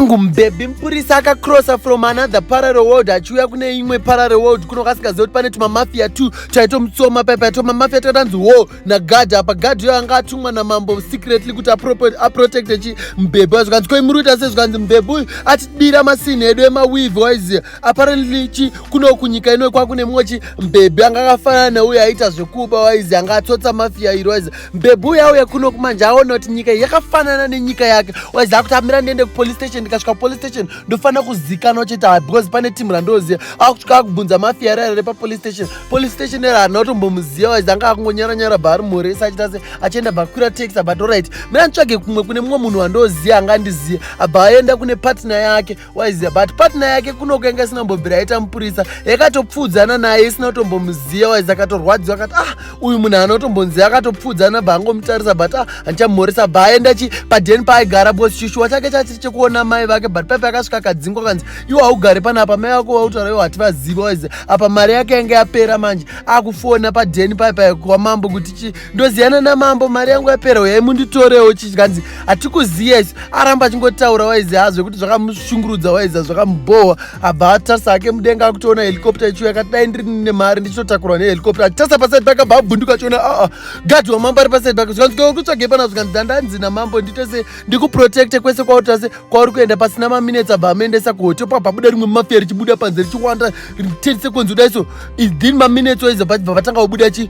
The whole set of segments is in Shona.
Angu mbebi mupurisa akacrossa from another parallel world achiuya kune imwe parallel world kuno kasingaziva kuti pane tumamafia two twaitomutsoma paipa twamamafia twatanzi wo nagard apa gard iyo anga atumwa namambo secretly kuti aprotecte chi mbebi wayo zvikanzi koi muri kuita se zvikanzi mbebi uyu atibira masini edu emawivi waiziva apparently chi kuno kunyika ino kwakune mumwe chi mbebhi anga akafanana neuyo aita zvekuba waizi anga atsotsa mafiya iro waizi mbebhi uya uya kuno kumanje aona kuti nyika yakafanana nenyika yake waizi akuti amira ndiende kupolice station ndikasvika police station ndofanira kuzikanwa chete ha because pane timu randoziva akusvika akubvunza mafiya rara repapolice station police station era hana kutombomuziva waizi anga akungonyara nyara bva ari muresa achita se achienda bva kwira taxi abato right mira nditsvage kumwe kune mumwe munhu wandoziva angandiziva abva aenda kune partner yake waiziva but patna yake kunoku yanga isina kumbobvira yaita mupurisa yakatopfuudzana naye isina kutombomuziva waizi akatorwadziwa akati ah uyu munhu anotombonzi akatopfuudzana bva angomutarisa but ah handichamhoresa bva aenda chi padeni paaigara bcause chishuwa chake chachiri chekuona mai vake but paipa yakasvika akadzingwa kanzi iwo haugari pana apa mai vako vautaura iwo hativaziva waizi apa mari yake yanga yapera manje akufona padeni paipa kwamambo kuti chi ndoziyana namambo mari yangu yapera uyai munditorewo chichanzi hatikuziya isu aramba achingotaura waizi hazve kuti zvakamushungurudza waizi hazvakamubhohwa abva atarisa ake mudenga akutoona helicopta ichiuya akati dai ndiri nemari ndichitotakurwa nehelicopta achitarisa pasaid pake abva abvunduka achiona aa ah, ah, gadhi wamambo ari pasaid pake zvikanzi kuri kutsvagei panazo zvikanzi dandanzi namambo nditese ndikuprotecte kwese kwauri tase kwauri kuenda pasina maminetsi abva amuendesa kuhotel pabva buda rimwe mafia richibuda panze richiwanda riterise kwenzi kudai so ithin maminetsi waizi abva vatanga kubuda chi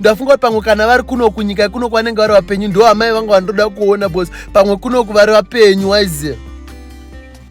ndafunga kuti pamwe kana vari kuno kunyika kuno kwanenge vari vapenyu ndo amai vanga vandoda kuona bcause pamwe kunoku vari vapenyu waiziva